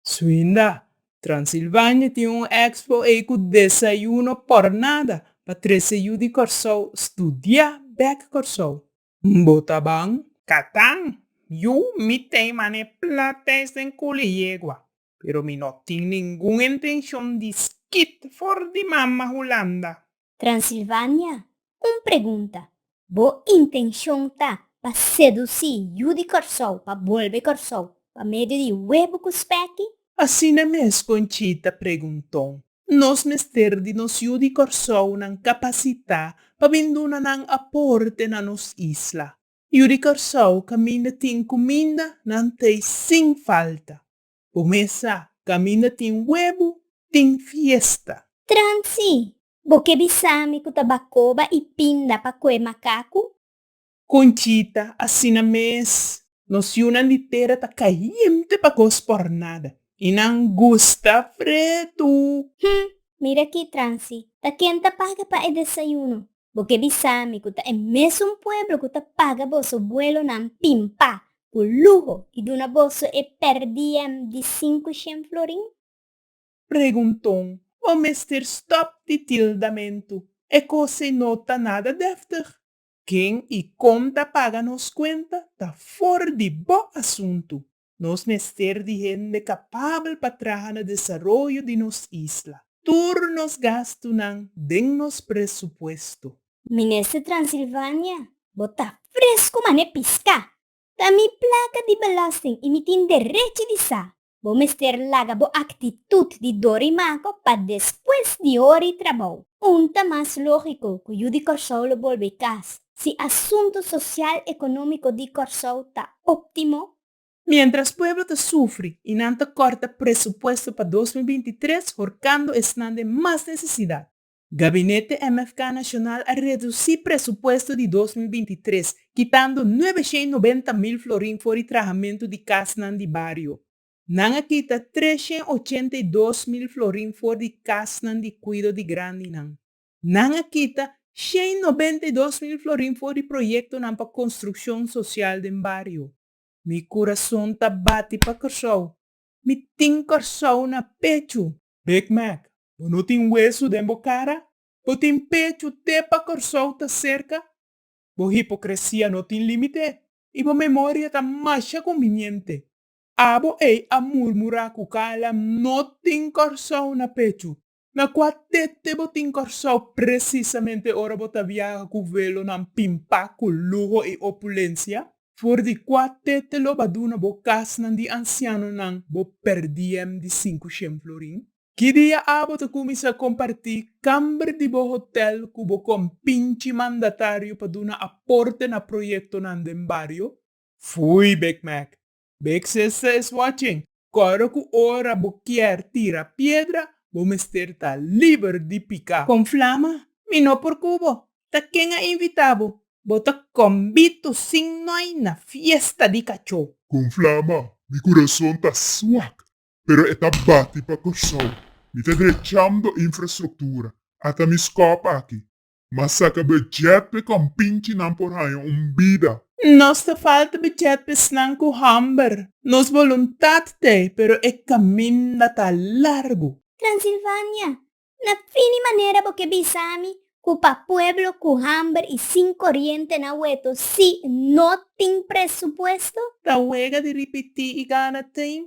Suinda, Transilvania tin un expo ei cu desayuno por nada pa trece yu di Corsou studia bek Corsou. Mbo ta ban? Catan, Yu mi tey mane plateis den culi yegua, pero mi no tin ningun intencion di skit for di mama Hulanda. Transilvania, Un pregunta, Bo intencion ta pa seduci yu di Corsou pa bolbe Corsou pa medio di huebu cu speki? Asina mes Conchita pregunto. Nos mester di nos yu di Corsounan capacita pa bin duna nan aporte na nos isla. Yu di Corsou caminda tin cuminda nan tey sin falta. Bo mes sa, kaminda tin webu, tin fiesta. Transi, bo ke bisami ku ta bakoba i pinda pa kue makaku? Conchita, Asina mes, nos yunan di tera ta kayente pa kos por nada, i nan gusta fretu. Hm, mira aki, Transi, ta ken ta paga pa e desayuno? Bo ke bisa mi ku ta e mesun pueblo ku ta paga boso buelonan pimpa ku luho i duna boso e per diem di sinku shen florin? Pregunton, Bo mester stòp di tildamentu. E kos'ei no ta nada dèftig. Ken i kon ta paga nos kuenta ta for di bo asuntu. Nos mester di hende kapabel pa traha na desaroyo di nos isla. Tur nos gastunan den nos presupuesto. Minister Transilvania, bo ta fresku mané piská! Ta mi plaka di belasting i mi tin derechi di sa. Bo mester laga bo aktitut di dor i mako pa despues di hori trabou. Punta mas lógiko ku yu di Kòrsou lo bolbe kas, si asuntu sosial ekonómiko di Kòrsou ta óptimo? Miéntras pueblo ta sufri i nan ta kòrta presupuesto pa dos mil binti i tres horkando esnan den mas nesesidat, Gabinete MFK Nashonal a redusí presupuesto di dos mil binti i tres, kitando nuebe shen nobenta mil florin for di trahamentu di kasnan di bario. Nan a kita tres shen ochenta i dos mil florin for di kasnan di kuido di grandinan. Nan a kita shei nobenta i dos mil florin for di proyektonan pa konstrukshon sosial den bario. Mi kurason ta bati pa Kòrsou. Mi tin Kòrsou na pechu. Big Mac, Bo no tin wesu den bo kara? Bo tin pechu te pa Kòrsou ta serka? Bo hipokresia no tin límite i bo memoria ta masha konviniente. Abo ei a murmurá ku kala no tin Kòrsou na pechu. Na kua tete bo tin Kòrsou presisamente ora bo ta viaha ku vuelonan pimpa ku luho i opulensia? For di kua tete lo ba duna bo kasnan di ansianonan bo perdiem di sinku shen florin? Ki dia a bo ta kuminsá kompartí kamber di bo hotèl ku bo kompinchi mandatario pa duna aporte na proyektonan den bario? Foei Big Mac, Bexes ta es watchen, kòrda ku ora bo kier tira piedra, bo mester ta liber di pika. Konflama, mi no por ku bo. Ta ken a invita bo? Bo ta kòmbitu sin noi na fiesta di kachó. Konflama, mi kurason ta swak, pero e ta bati pa Kòrsou. Mi ta drechando infrastruktura, ata mi skòp aki. Ma saca budget pe compinchinan por haña un bida. Nos ta falta budget pe esnan cu homber. Nos voluntad ta e, pero e caminda ta largu. Transilvania, na fini manera bo ke bisa mi ku pa pueblo ku hamber i sin koriente na weto si no tin presupuesto? Ta wega di ripití i gana tin.